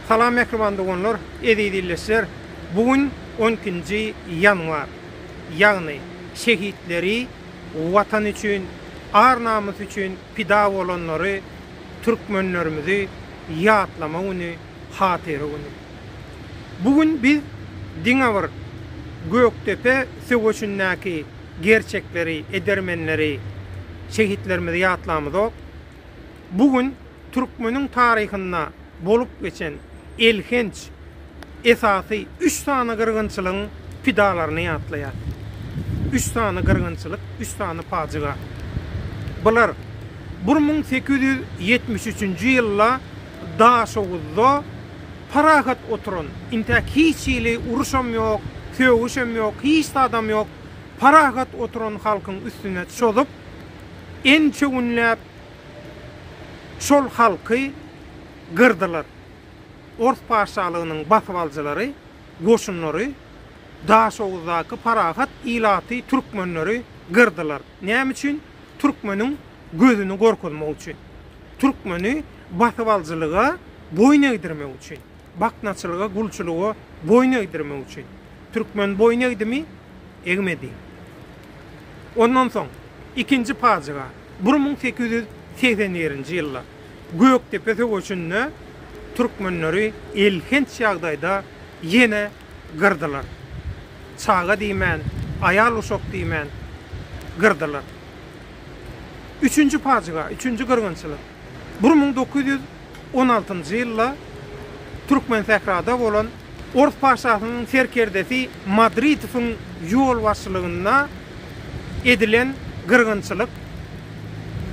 Salam mähriban doganlar, eziz ildeşler. Bu gün on ikinji ýanwar. Ýagny şehitleri, Watan üçin, ar-namys üçin pida bolanlary, türkmenlerimizi ýatlama güni, hatyra güni. Bu gün biz diňe bir Gökdepe söweşindäki gerçekleri, edermenleri, şehitlerimizi ýatlamyzok. Bu gün türkmeniň taryhynda bolup geçen elhenç, esasy üç sany gyrgynçylygyň pidalaryny ýatlaýar. Üç sany gyrgynçylyk, üç sany pajyga. Bular bir müň sekiz ýüz ýetmiş üçünji ýylda Daşoguzda parahat oturan, intäk hiç hili uruşam ýok, sögüşem ýok, hiç zadam ýok, parahat oturan halkyň üstüne çozup, ençewünläp şol halky gyrdylar. Ors patyşalygynyň basybalyjylary, goşunlary Daşoguzdaky parahat ilaty, türkmenleri gyrdylar. Näme üçin? Türkmeniň gözüni gorkuzmak üçin. Türkmeni basybalyjylyga boýun egdirmek üçin. baknaçylyga, gulçulyga boýun egdirmek üçin. Türkmen boýun egdimi? Egmedi. Ondan soň, ikinji pajyga, bir müň sekiz ýüz segsen birinji ýylda Gökdepe söweşinde türkmenleri elhenç ýagdaýda ýene gyrdylar. Çaga diýmän, aýal-uşak diýmän gyrdylar. Üçünji pajyga, üçünji gyrgynçylyk. Bir müň dokuz ýüz on altynjy ýylda Türkmensährada bolan Ors paşasynyň serkerdesi Madridowyň ýolbaşçylygynda edilen gyrgynçylyk,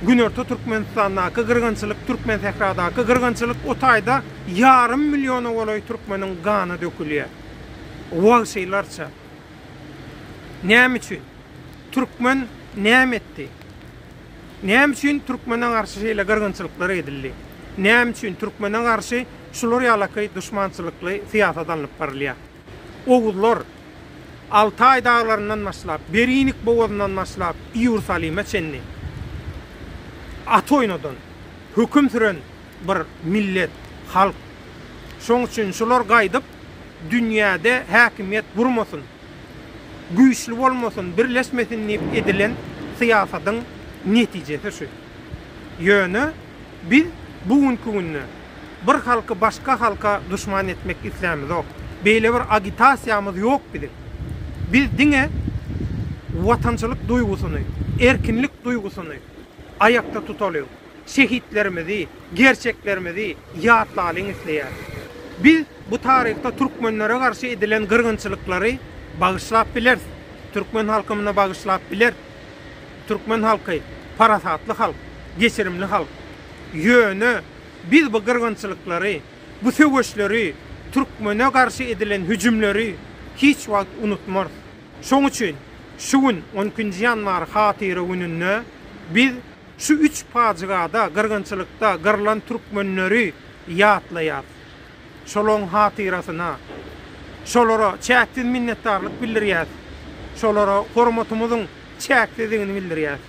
Günorta Türkmenistandaky gyrgynçylyk, Türkmensähradaky gyrgynçylyk, o taýda ýarym milliona golaý türkmeniň gany dökülýär. Wagşylarça. Näme üçin? Türkmen näme etdi? Näme üçin türkmene garşy şeýle gyrgynçylyklar edildi? Näme üçin türkmene garşy şular ýalaky duşmançylykly syýasat alnyp barylýar? Oguzlar, Altaý daglaryndan başlap, Berinik bogazyndan başlap, Iýerusalime çenli at oýnadan, höküm süren bir millet, halk. Şoň üçin şular gaýdyp, dünýäde häkimiýet gurmasyn. güýçli bolmasyn, birleşmesin diýip edilen syýasatyň netijesi şu. Ýöne biz bu günki günde bir halky başga halka duşman etmek islämizok. Beýle bir agitasiýamyz ýok biziň. Biz diňe watançylyk duýgusyny, erkinlik duýgusyny aýakda tutalyň. Şehitlerimizi, gerçeklerimizi ýatlalyň isleýäris. Biz bu taryhda türkmenlere garşy edilen gyrgynçylyklary bagyşlap bileris. Türkmen halky muny bagyşlap biler. Türkmen halky parasatly halk, geçirimli halk. Ýöne biz bu gyrgynçylyklary, bu söweşleri, türkmene garşy edilen hüjümleri hiç wagt unutmarys. Şoň üçin şu gün on ikinji ýanwar hatyra gününde biz. Şu üç pajygada, gyrgynçylykda gyrlan türkmenleri ýatlaýas. Şolaň hatyrasyna, şolara çäksiz minnetdarlyk bildirýäs, şolara hormatymyzyň çäksizdigini bildirýäs.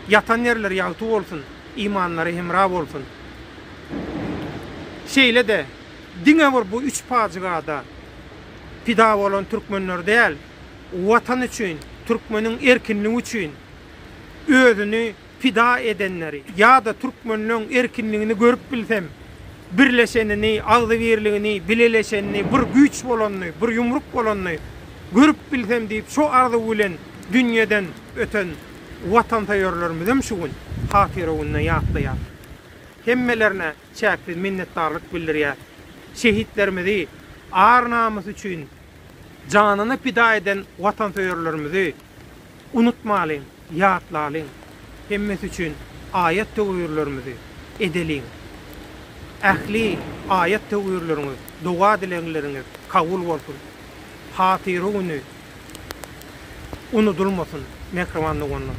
Ýatan ýerleri ýagty bolsun, imanlary hemra bolsun. Şeýle-de, diňe bir bu üç pajygada pida bolan türkmenler däl, Watan üçin, türkmeniň erkinligi üçin, özüni pida edenleri ýa-da türkmenleň erkinligini görüp bilsem, birleşenini, agzybirligini, bileleşenini, bir güýç bolanyny, bir ýumruk bolanyny görüp bilsem diýip şo arzuw bilen dünýeden öten watansöýerlerimizem şu gün Hatyra gününe ýatlaýar. Hemmelerine çäksiz minnetdarlyk bildirýäs. Şehitlerimizi ar-namys üçin Janyny pida eden watansöýerlerimizi unutmalyň, ýatlalyň. Hemmesi üçin aýat-töwirlerimizi edeliň. Ähli aýat-töwirleriňiz, doga-dilegleriňiz kabul bolsun. Hatyra güni unudylmasyn, mähriban doganlar!